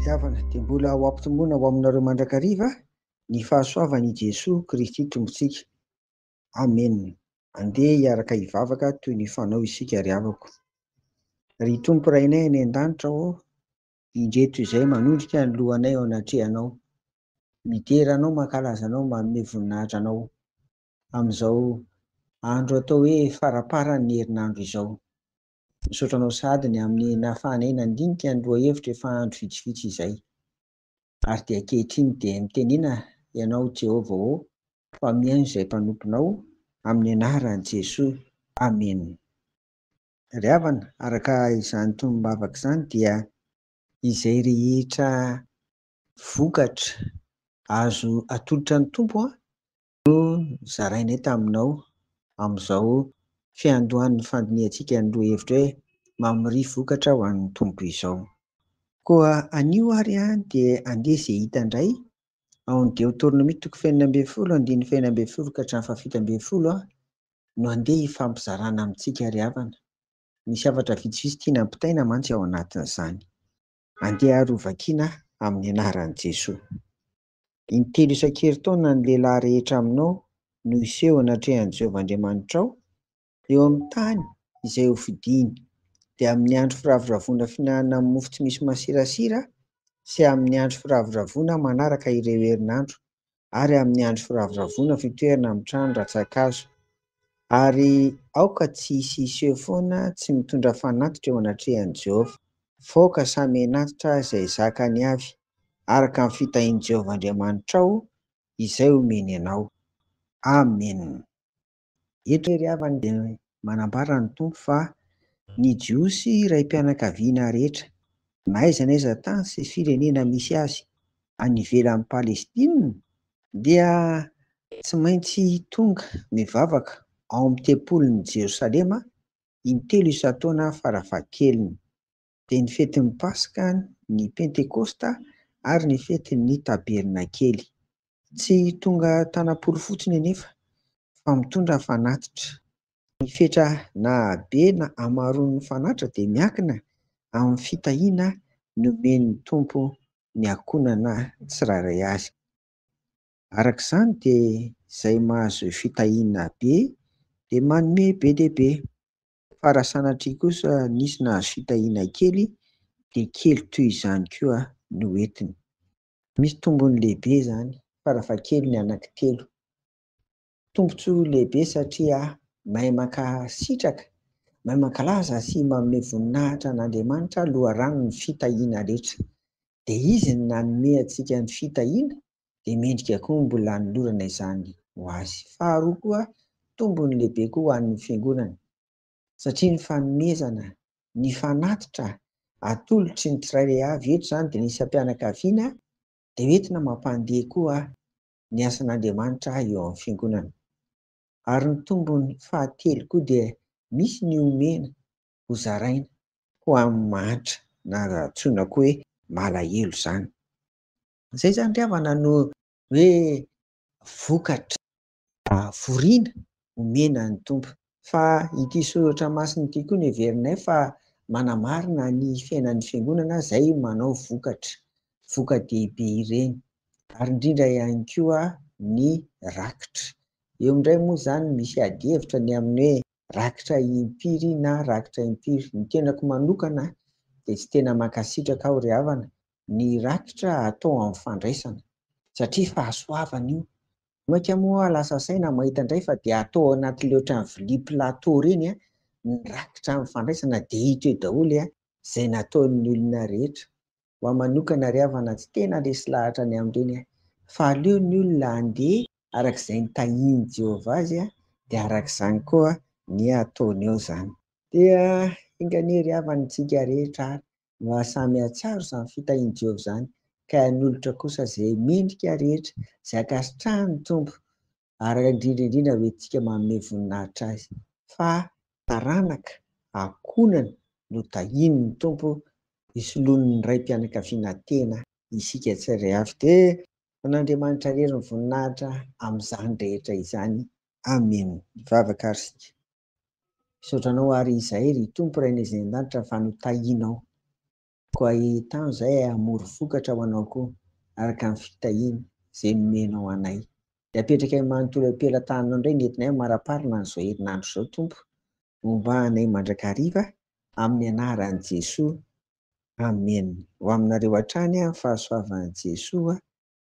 Fiavana, dia mbola ho ampitomboina ho aminareo mandrakariva ny fahasoavan' i Jesoa Kristy Tompontsika. Amena. Andeha hiaraka hivavaka toy ny fanao isika ry havako. Ry Tompo Rainay any an-danitra ô, indreto izay manondrika ny lohanay eo anatrehanao. Midera Anao, mankalaza Anao, manome voninahitra Anao. amin'izao andro atao hoe faramparan'ny herinandro izao. Misaotra anao sahady ny amin'ny nahafahanay nandinika ny lohahevitra efa andro vitsivitsy izay. Ary dia ankehitriny dia mitenena Ianao Jehovah ô, fa mihaino izay mpanomponao, amin'ny anaran'i Jesoa, amena. Ry havana, araka izany tonom-bavaka izany dia izay rehetra vokatra azo atolotra ny Tompo no zarainay taminao amin'izao fiandohan'ny fandinihantsika ny lohahevitra hoe Mamoria Vokatra ho an'ny Tompo izao. Koa anio ary dia andeha izay hita indray ao amin'ny Deoteronomia toko fahenina ambin'ny folo andininy fahenina ambin'ny folo ka hatramin'ny fahafito ambin'ny folo no andeha hifampizarana amintsika ry havana. Misy hafatra vitsivitsy tiana ampitaina mantsy ao anatin'izany. Andeha ary ho vakiana amin'ny anaran'i Jesoa. Intelo isan-kerintaona ny lehilahy rehetra aminao no hiseho anatrehan'i Jehovah Andriamanitrao eo amin'ny tany izay hofidiny, dia amin'ny andro firavoravoana fihinanana mofo tsy misy masirasira sy amin'ny andro firavoravoana manaraka ireo herinandro ary amin'ny andro firavoravoana fitoerana amin'ny trano rantsan-kazo. Ary aoka tsy hisy hiseho foana tsy mitondra fanatitra eo anatrehan'i Jehovah. Faoka samy henatitra izay zakany avy. araka ny fitahian'i Jehovah Andriamanitrao izay omeny anao. Amena. Eto i Rehavan dia manambara ny Tompo fa ny Jiosy raim-pianakaviana rehetra, na aiza na aiza tany sy firenena misy azy any ivelan'i Palestina, dia tsy maintsy tonga mivavaka ao amin'ny tempolin'i Jerosalema intelo isan-taona farafahakeliny. dia ny fetin'ny Paska, ny Pentekosta ary ny fetin'ny Tabernakely. Tsy tonga tanam-polo fotsiny anefa fa mitondra fanatitra. Ny fetra na habe na hamaroan'ny fanatitra dia miankina amin'ny fitahiana nomen'ny Tompo ny ankohonana tsirairay avy. Araka izany dia izay mahazo fitahiana be dia manome be dia be. Fa raha sanatria kosa nisy nahazo fitahiana kely dia kely toy izany koa no entiny. Misy tombony lehibe izany farafahakeliny ny anankitelo. Tombontsoa lehibe satria mahay mankasitraka, mahay mankalaza sy manome voninahitra an'Andriamanitra loharanon'ny fitahiana rehetra. Dia Izy no nanome antsika ny fitahiana dia mendrika koa mbola hanolorana izany ho azy. Faharoa koa, tombony lehibe koa ho an'ny Fiangonana, satria ny fanomezana ny fanatitra atolotry ny tsirairay avy, eto izany dia ny isam-pianakaviana, dia hoentina mampandeha koa ny asan'Andriamanitra eo amin'ny Fiangonana. Ary ny tombony fahatelo koa dia misy ny omena hozaraina ho amin'ny mahantra, na antsoina koa hoe malahelo izany. Izay izany ry havana no hoe vokatra fahaforiana omena ny Tompo. Fa ity soratra masina ity koa no heverinay fa manamarina ny fiainan'ny Fiangonana izay manao vokatra, voka-dehibe ireny. Ary indrindra ihany koa ny rakitra. Eo indray moa izany misy adihevitra ny amin'ny hoe rakitra impiry na rakitra impiry. Ny tenako manokana dia tsy tena mankasitraka aho ry havana ny rakitra atao amin'ny fandraisana satria fahasoavana io. Mainka moa aho lasa saina mahita indray fa dia atao anatin'ilay ohatran'ny vilia plateau ireny ny rakitra amin'ny fandraisana dia hita eo daholo izay nataon'ny olona rehetra. Ho ahy manokana ry havana tsy tena resy lahatra ny amin'ireny fa aleo ny olona handeha araka izay nitahian'i Jehovah azy dia araka izany koa ny hataony eo izany. Dia enga anie ry havana isika rehetra ary Mba samy hahatsiaro izany fitahian'i Jehovah izany, ka hanolotra kosa izay mendrika rehetra, izay ankasitrahan'ny Tompo, ary indrindra indrindra ho entintsika manome voninahitra azy. Fa taranaka ankohonany no tahian'ny Tompo, hisoloan'ny raim-pianakaviana tena isika tsirairay avy. Dia ho an'Andriamanitra irery ny voninahitra amin'izany rehetra izany. Amena. Hivavaka àry isika. Misaotra anao ary izay ry Tompo Rainay izay any an-danitra fa notahianao. Koa ahitano izay hamory vokatra ho anao koa araka ny fitahiana izay nomenao anay. Dia apetrakay manontolo eo am-pelatananao indray ny entinay amaraparina an'izao herinandro izao Tompo. Homba anay mandrakariva amin'ny anaran'i Jesoa. Amen. Ho aminareo hatrany ny fahasoavan'i Jesoa.